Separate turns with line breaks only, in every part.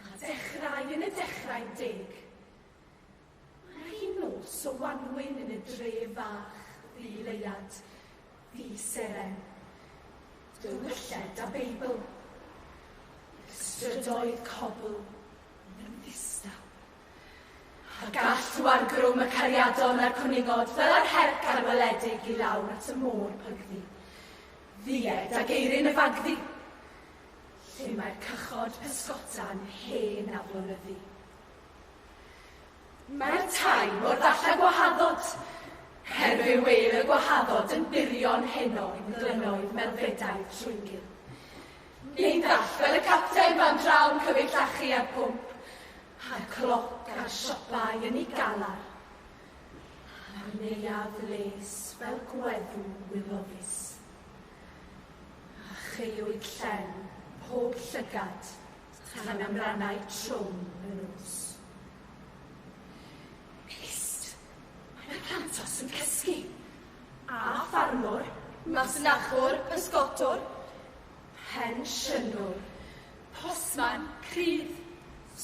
A dechrau yn y dechrau'n deg. Mae hi nos o wanwyn yn y dref fach, ddi leuad, ddi seren. Dywylled a Beibl. Y strydoedd cobl yn ddistaw. A gall o argrwm y cariadon a'r cwningod fel ar herc arweledig i lawr at y môr pygddu. Ddied a geirin y fagddu. lle mae'r cychod pysgota'n hen aflonyddu. Mae'r tai mor ddall â gwahaddod, her fe wêl y gwahaddod yn burion heno yn glynoedd melfedaidd Trwyngyl. Neu'n ddall fel y capten fan draw yn cyfyd llachu a'r pwmp, a'r cloc a'r siopau yn ei galar, a'r neuadd les fel gweddw wilofus. a cheuwyd llen pob llygad tan amrannau trwm y nos. Pist! Mae na plantos yn cysgu! A ffarmwr, masnachwr, pysgotwr, pensiynwr, postman, crydd,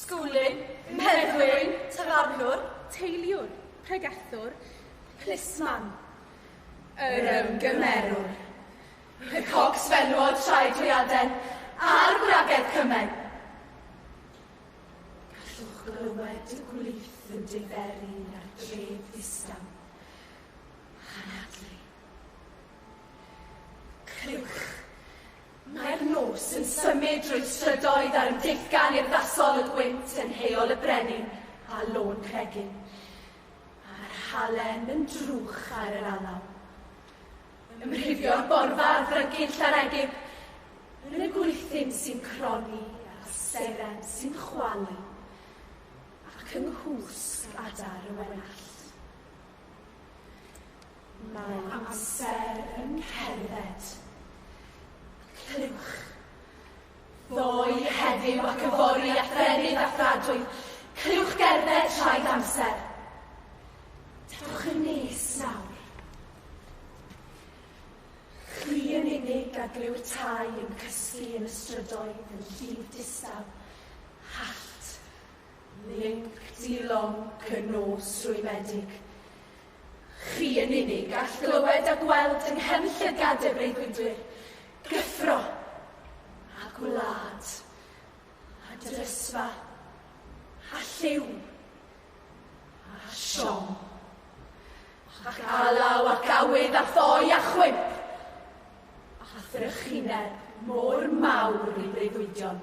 sgwlyn, meddwyn, tafarnwr, teiliwr,
pregethwr, plismon,
yr ymgymerwr. Pe cogs fenywod traed dwyaden a'r gwragedd cymen. Gallwch glywed y gwlith yn diferu ar dref ddistaw. Anadlu. Clywch. Mae'r nos yn symud drwy'r strydoedd a'r yn deithgan urddasol y gwynt yn heol y brenin a lôn cregyn. A'r halen yn drwch ar yr alaw. Ymrhifio'r borfa a frygu'n llaregig, yn y gwythin sy'n croni a seren sy'n chwalu, ac yng nghwsg adar y wenallt. Mae amser yn cerdded. Clywch. Ddoe, heddiw ac yfory at ddefnydd a thradwy, cylliwch gerdded traed amser. Tafwch yn nes nawr. Chwi yn unig a glyw'r tai yn cysgu yn y strydoedd yn llif distaw. Hallt. Linc di lonc y nos rwymedig. Chi yn unig all glywed a gweld yng nghefn llygad y breuddwydwyr, gyffro, a gwlad, a dyrysfa, a lliw, a siom, ac alaw ac awydd a ffoi a chwymp, a thrychineb mor mawr i breuddwydion.